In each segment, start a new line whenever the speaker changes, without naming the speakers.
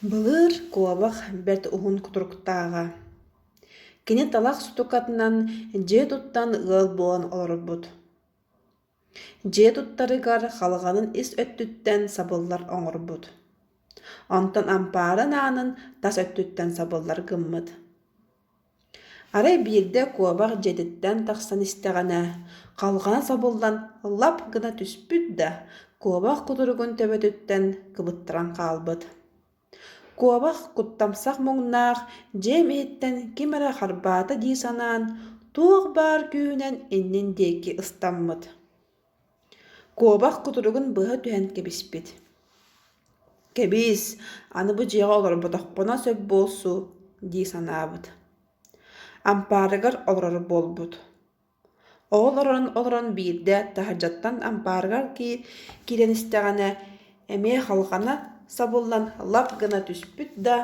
Былыыр куобах бэрт уһун кутуруктааҕа. Кини талах сутукатынан дьиэ туттан ыал буолан олорбут. Дьиэ туттарыгар халҕанын ис өттүттэн сабыллар оҥорбут. Онтон ампаарын аанын тас өттүттэн сабыллар гыммыт. Арай биирдэ куобах дьиэтиттэн тахсан истэҕинэ, халҕана сабыллан лап гына түспүт да, куобах кутуругун төбөтүттэн кыбыттаран хаалбыт. Куобах куттамсах муҥнаах дьиэм иһиттэн ким эрэ харбаата дии санаан, туох баар күүһүнэн иннин диэки ыстаммыт Куобах кутуругун быһа түһэн кэбиспит. Кэбис, аны бу дьиэҕэ олорботохпуна сөп буолсу, дии санаабыт. Ампаарыгар олорор буолбут. Ол олорон олорон биирдэ таһырдьаттан ампаарыгар киирэн истэҕинэ эмиэ халҕана сабыллан лап гына түспүт да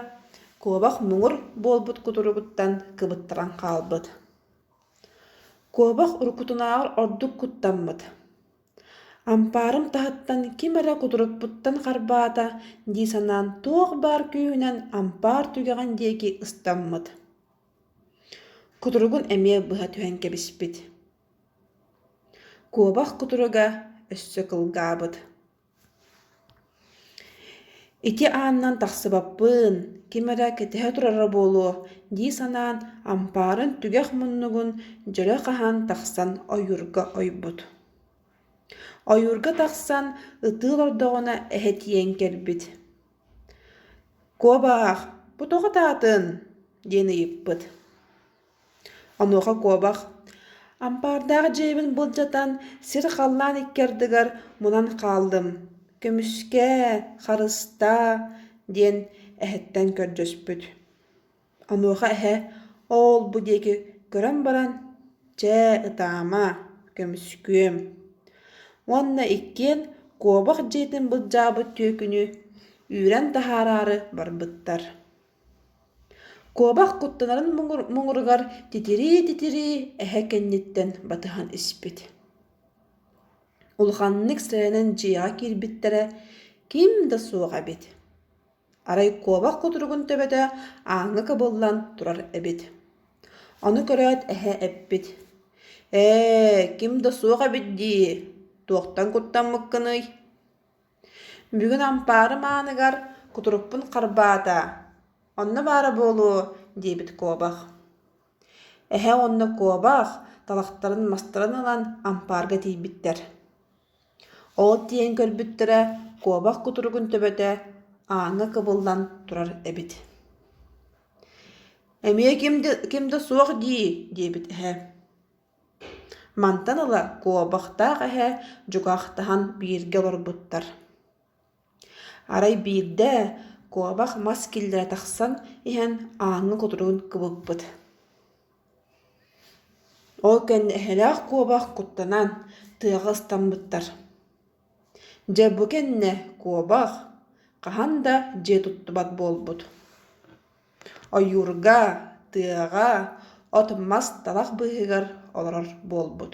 куобах муҥур буолбут кутуругуттан кыбыттаран хаалбыт. Куобах уруккутунааҕар ордук куттаммыт Ампаарым таһыттан ким эрэ кутурукпуттан харбаата дии санаан туох баар күүһүнэн ампаар түгэҕин диэки ыстаммыт Кутуругун эмиэ быһа түһэн кэбиспит Куобах кутуруга өссө кылгаабыт ити аанынан тахсыбаппын ким эрэ кэтэһэ турара буолуо дии санаан ампаарын түгэх муннугун дьөлө хаһан тахсан ойуурга ойбут ойуурга тахсан ытыы олордоҕуна эһэ тиийэн кэлбит куобаах бу тоҕо атаатын диэн ыйыппыт Онуоха куобах ампаардаах дьиэбин былдьатан сир халлаан икки ардыгар мунан хааллым. Көмүскээ, харыстаа, диэн эһэттэн көрдөспүт. Онуоха эһэ оол бу диэки көрөн баран чэ ытаама, көмүскүөм уонна иккиэн куобах дьиэтин былдьаабыт түөкүнү үүрэн таһаараары барбыттар куобах куттанарын муҥуругар титирии-титирии эһэ кэнниттэн батыһан испит улаханнык сэрэнэн дьиэҕэ киирбиттэрэ ким да суох эбит арай куобах кутуругун төбөтө ааҥҥа кыбыллан турар эбит ону көрөөт эһэ эппит ээ ким да суох эбит дии туохтан куттаммыккыный Бүгүн ампаарым ааныгар кутурукпун харбаата, онно баара буолуо, диэбит куобах. Эһэ уонна куобах талахтарын мастарын ылан ампаарга тиийбиттэр. Ол тиийэн көрбүттэрэ куобах кутуругун төбөтө ааҥҥа кыбыллан турар эбит. «Эмиэ ким да, ким да суох дии» диэбит эһэ Мантан ыла куобахтаах эһэ дьукаахтаһан бииргэ олорбуттар. Арай биирдэ куобах мас киллэрэ тахсан иһэн ааҥҥа кутуругун кыбыппыт. Ол кэннэ эһэлээх куобах куттанан тыаҕа ыстаммыттар. Дьэ бу кэннэ куобах хаһан да дьиэ туттубат буолбут Ойуурга, тыаҕа, от мас талах быыһыгар олорор буолбут